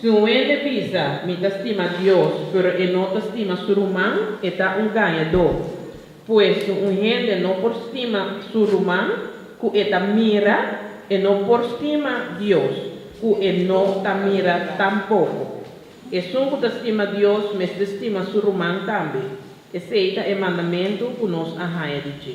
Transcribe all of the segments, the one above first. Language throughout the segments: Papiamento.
Si un hende bisa, Mi ta stima Dios, pero e no ta stima su ruman, e ta un gañadó. Pues, si un hende no por stima su ruman ku e ta mira, e no por stima Dios, ku e no ta mira tampoko. Esun ku ta stima Dios mester stima su ruman tambe. Esei ta e mandamentu ku nos a haña di dje.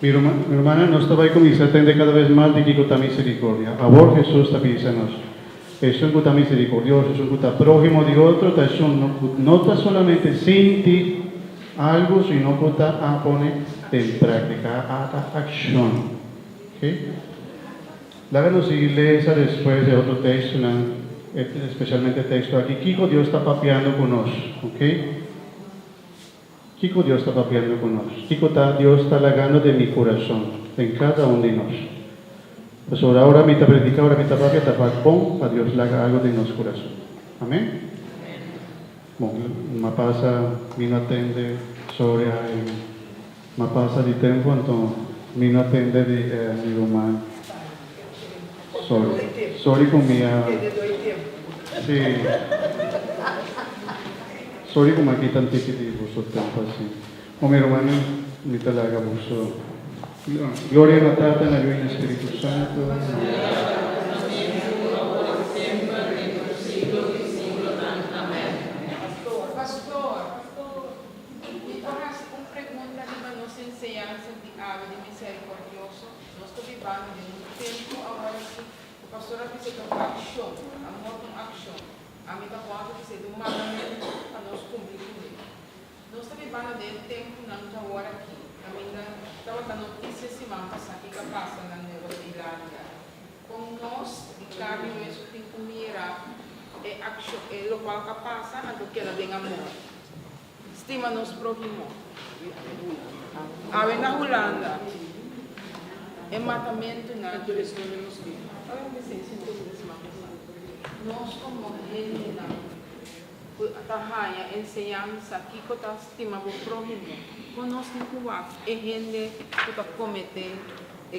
Mi ruman, mi rumannan, nos ta bai kuminsá tende kada bes mas di kiko ta miserikordia. Awor Hesus ta bisa nos, Esun ku ta miserikordioso, esun ku ta próhimo di otro, ta esun ku no ta solamente sinti algu, sino ku ta a pone den práktika, a ta akshon. Oke? Laga nos sigui lesa despues e otro tekstonan, espesialmente e teksto aki, kiko Dios ta papiando ku nos. Oke? Kiko Dios ta papiando ku nos? Kiko ta Dios ta lagando den mi kurason, den kada un di nos? Pasobra ora mi ta prediká, ora mi ta papia, ta bak bon pa Dios laga algu den nos kurason. Amen? Bon, lo a pasa mi no a tende, sòri a N a pasa di tempu, anto mi no a tende di N a mi ruman. Sorry. Sorry cu mi a. Si. Sorry cu mi a kita un tiki di boso tempo así. Mo mi rumannan, mi ta laga boso. Gloria na Tata, na Lui, na Spiritu Santo, na. Nos ta bibando den un tempu aworasi ku pastor a bisa dor akshon, amor kon akshon. Ami ta bon ta bisa e dor mandamentu pa nos kumpli ku e. Nos ta bibando den e tempunan ku awor aki. Kaminda tabata notisia siman pasá kiko a pasa na Nueva Zelandia. Kon nos di karni mes ku tin ku mira e akshon, e lokual ku a pasa, anto keda den amor. Stima nos próhimo. Awe na Hulanda e matamentunan tur es nunde nos biba. Nos komo hendenan ku ta haña enseñansa kiko ta stima bo próhimo, konosni ku wak e hende ku ta kometé e.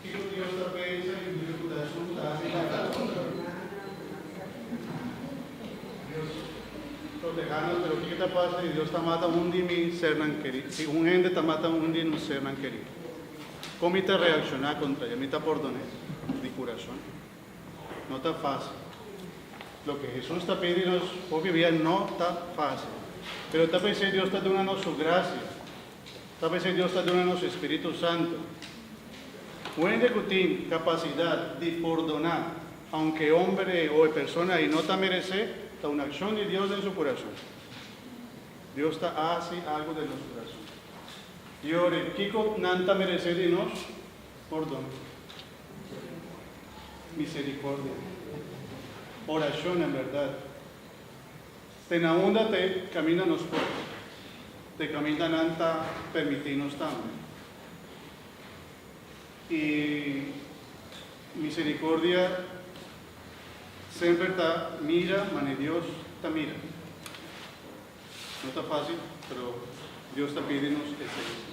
Kiko Dios ta pensa di Dios ku ta junta i ta kaba ku otro? Dios protehá nos, pero kiko ta pasa si Dios ta mata un di mi sernan kerí? Si un hende ta mata un di nos sernan kerí, kon mi ta reakshoná kontra el? Mi ta pòrdoné di kurason? No ta fásil. Loke Hesus ta pidi nos hopi bia no ta fásil, pero ta pens'é Dios ta duna nos su grasia. Ta p'esei Dios ta duna nos su Spiritu Santu. Un hende cu tin capacidad di pordona aunke e homber ei o e persona ei no ta merece, ta un accion di Dios den su curason. Dios ta haci algu den nos curason. Y ora e kico nan ta merece di nos? Pordon, misericordia, oracionnan, berdad. Te na unda te caminda nos por, te caminda nan ta permiti nos tambe. Y misericordia semper ta mira mane Dios ta mira. No ta facil pero Dios ta pidi nos esey.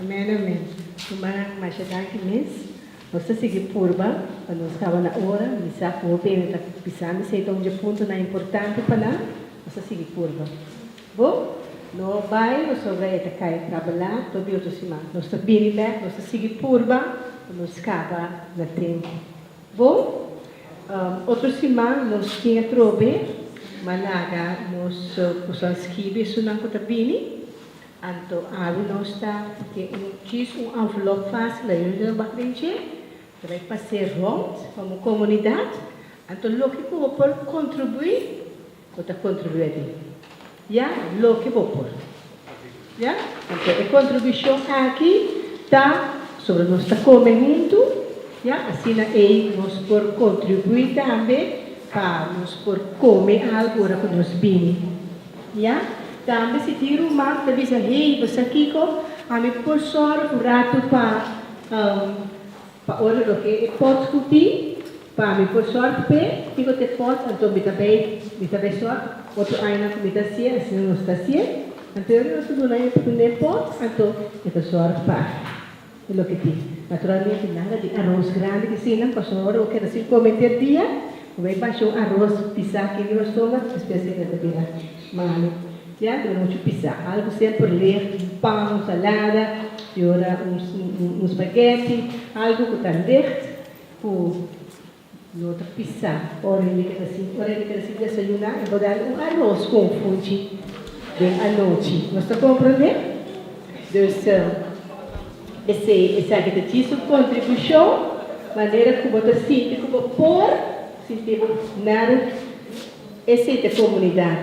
Amén amén humannan masha danki mes nos ta sigui purba pa nos kaba na ora mi sa ku hopi hende ta bisa mi esei ta un dje punto nan importante pa nan nos ta sigui purba bo no bai pasobra e ta kai trabala tot di otro siman nos ta bini bek nos ta sigui purba pa nos kaba na tempo. Bo, otro siman nos tin e trobe, ma laga nos kusan skibi esunnan ku ta bini. Anto awe nos ta i tin un djis un anvelop fásil la yunda nan bak den dje. Ta bai pas'é rònt pa bo komunidat. Anto loke ku bo por kontribuí Bo ta kontribué di ya loke bo por, ya. Anto e kontribushon aki ta sobre nos ta kome huntu, ya, asina ei nos por kontribuí tambe pa nos por kome algu ora ku nos bini, ya. Tambe si tin ruman ku ta bisa, Hei, bo sa kiko? Ami por sòru ku ratu pa. Pa ora loke e pots cu tin pa mi por sort p'e kiko t'e pot anto mi ta bay mi ta bay sort otro añanan cu mi ta haci'e asina nos ta haci'e anto e ora nos ta duna e papi n'e pot anto e ta sort pa e loke tin naturalmente nada di aros grandi di sinan pasobra ora bo keda sin come enter dia bo bay basha un aros pisa aki riba stomak despues keda ta bira. Malo. Siempre lo mucho pisa. Algo semper licht, un pan, un salada, di ora un spaghetti, algo cu ta licht cu no ta pisa. Ora e mira ta sin desayuna e bo dal un aros cu un funchi den anochi. Nos ta comprende? Dus esaki ta djisu contribucion manera cu bo ta sinti cu bo por. Siti op Nel, esei ta comunidad.